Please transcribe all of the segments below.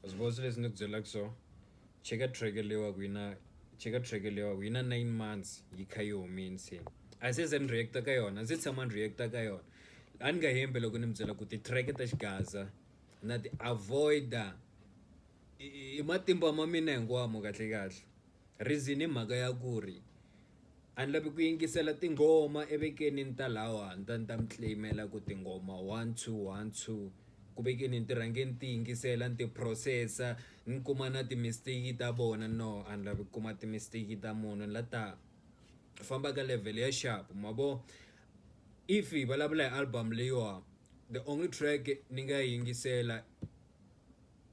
Sbosso leswi ni ku byelaka swona cheka track leyi wa ku yi na cheka track leyi wa ku yi na nine months yi kha yi humile se a se za ni react-a ka yona a ndzi se tshama ni react-a ka yona a ni nga hembi loko ni mi byela ku ti-track ta xigaza na ti avoid-a hi matimba ma mina hinkwawo kahlekahle reason i mhaka ya ku ri. a ni lavi ku yingisela tinghoma evekeni ni ta lawa ni ta ni ta mi claim-ela ku tinghoma one two one two ku vekeni ni ti rhange ni ti yingisela ni ti phurosesa ni kuma na ti-mistake ta vona no a ni lavi ku kuma ti-mistake ta munhu ni la ta famba ka level ya xap ma vo if hi vulavula hi album leyiwa the only track ni nga yi yingisela.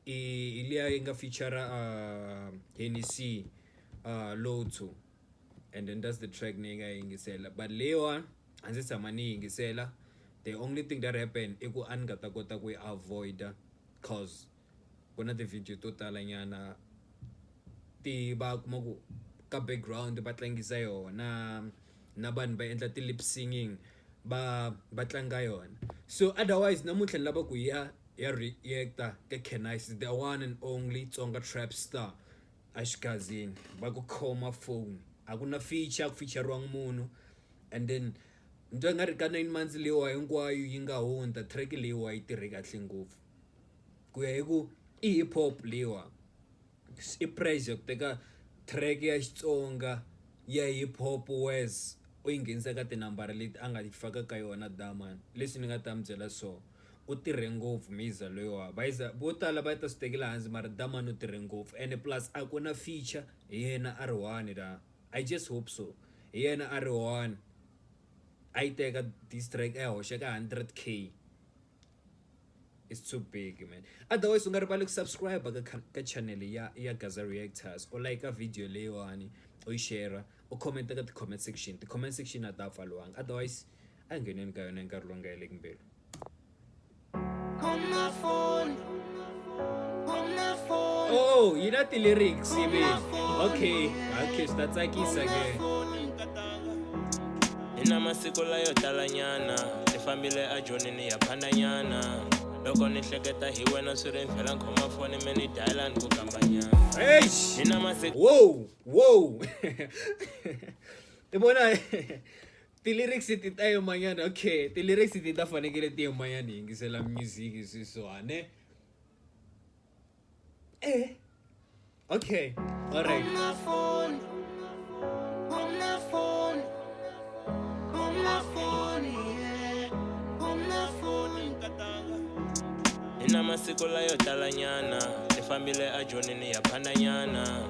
i liya yi nga feature Hennessy Low Two and then that's the track ni nga yingisela but leyiwani a ndzi se tshama ni yingisela the only thing that happen i ku a ni nga ta kota ku yi avoid-a coz ku na ti-video to tala nyana ti va kuma ku ka background va tlangisa yona. na vanhu va endla ti lip singing va va tlanga yona so otherwise namuntlha ni lava ku ya ya reacta ka Canise the one and only Tsonga trap star a xigazini va ku khoma phone a ku na feature ku featurewangi munhu and then ni twa nga ri ka nine months leyiwa hinkwayo yi nga hundza track leyiwa yi tirhe kahle ngopfu ku ya hi ku i hip hop leyiwa. I prize ya ku teka track ya Xitsonga ya hip hop Wes u yi nghenisa ka tinambara leti a nga yi faka ka yona Dharman leswi ni nga ta mi byela so u tirhe ngopfu Miza loyiwa va za vo tala va ta swi tekela hansi mara Dharman u tirhe ngopfu and plus a ku na feature hi yena a ri one la I just hope so hi yena a ri one a yi teka diss track a yi hoxa ka hundred K. is too big man otherwise u nga rivali ku subscribe ka ka channel ya ya Gaza Reactors u like video leyiwani u yi share u comment ka ti-comment section ti-comment section a ta pfaliwanga otherwise a ngheneni ka yona hi nkarhi lowu nga heleki mbelu oh yi na ti-lyrics ivi okay okay swi ta tsakisa ke hi na masiku layo talanyana ni fambile ajonini ya phandanyana loko ni hleketa hi wena swi ri vhela khoma foni me ni dayila ni ku kambanyana hi na masiku wow wow i vona Ti-lyrics ti ta yimanyana okay ti-lyrics ti ta fanekele ti yimanyana hi yingisela music sweswiwa ne e okay alright na masiku layo talanyana ni fambile ejonini ya phandanyana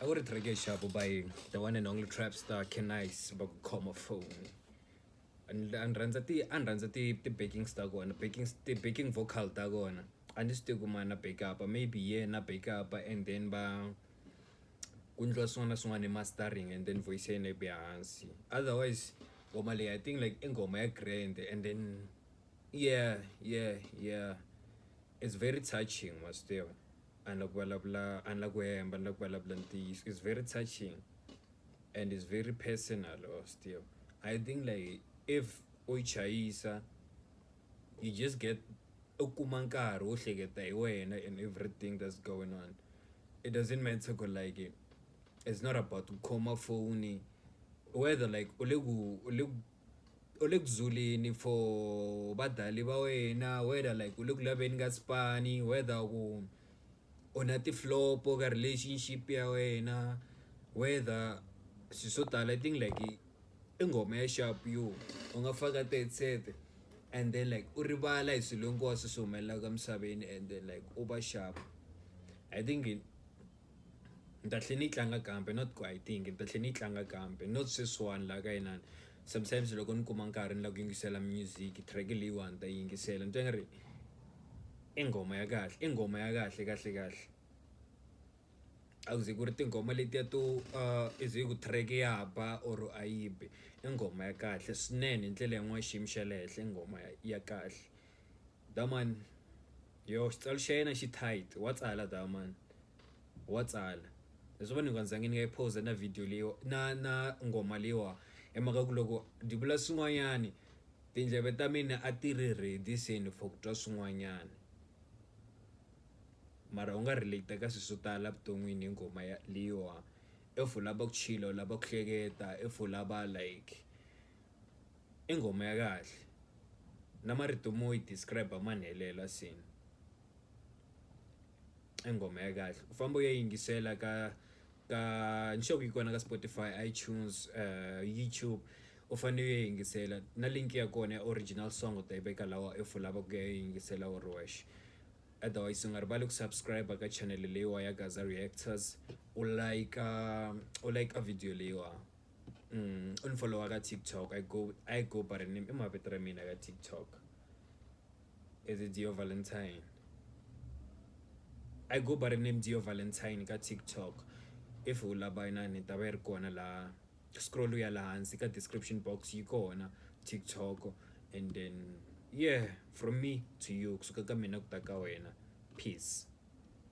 a ku ri track ya xapu by the one and only trap star canice va ku khoma phone a ni rhandza ti a ni rhandza ti ti-backing ta kona backing ti-backing vocal ta kona a ni swi tivi ku mani a back up-a maybe hi yena a back up-a and then va ku endliwa swin'wana na swin'wana hi mastering and then voice ya yena yi vuya hansi otherwise ngoma leyi I think like i nghoma ya grand and then. Yeah yeah yeah it's very touching wa swi tiva a ni la ku vulavula a ni la ku hemba ni la ku vulavula ntiyiso it's very touching and it's very personal wa swi tiva I think like if u yi chayisa you just get u kuma nkarhi wo hleketa hi wena and everything that's going on it doesn't matter ku like it's not about ku khoma foni whether like u le ku u le ku u le ku zuleni for vadlali va wena whether like u le ku laveni ka xipano whether ku u na ti flop ka relationship ya wena whether swilo swo tala i think like i nghoma ya xapu yo u nga faka tiheadset and then like u rivala hi swilo hinkwaswo leswi humelelaka emisaveni and then like u va xapu I think. ni ta tlhela ni yi tlanga kambe not ku a yi tiyi ngi ni ta tlhela ni yi tlanga kambe not sweswiwani laha ka inani sometimes loko ni kuma nkarhi ni lava ku yingisela music track leyiwani ni ta yingisela ni twa nga ri i nghoma ya kahle i nghoma ya kahle kahle kahle a ku ze ku ri tinghoma letiya to i ze ku track ya ba or a yi bi i nghoma ya kahle swinene hi ndlela yin'wani xiyimo xa le henhla i nghoma ya kahle. Daman, yoh, xicelo xa yena xi tight, wa tsala Daman, wa tsala. Leswi va ni nga ndzangi ni nga yi phoza na video leyi na na ngoma leyiwa hi mhaka ku loko ni vula swin'wanyani tindleve ta mina a ti ri ready se ni for ku twa swin'wanyani mara u nga relate ka swilo swo tala evuton'wini hi ngoma ya leyiwa if u lava ku chila u lava ku hleketa if u lava like. I nghoma ya kahle na marito mo yi describe ma ni helela nsimu i nghoma ya kahle u famba u ya yingisela ka ka ni sure ku yi kona ka Spotify, iTunes, YouTube u fanele u ya yingisela na link ya kona ya original song u ta yi veka laha if u lava ku ya yingisela u ri wexe otherwise u nga rivali ku subscribe ka channel leyiwani ya Gaza Reactors u like u like video leyiwani. u ni folowa ka TikTok I go I go by the name i mavito ra mina ka TikTok is it Dziyo Valentine I go by the name Dziyo Valentine ka TikTok if u lava inana yi ta va yi ri kona laha scroll ya laha hansi ka description box yi kona TikTok and then yeah from me to you kusuka ka mina ku ta ka wena peace.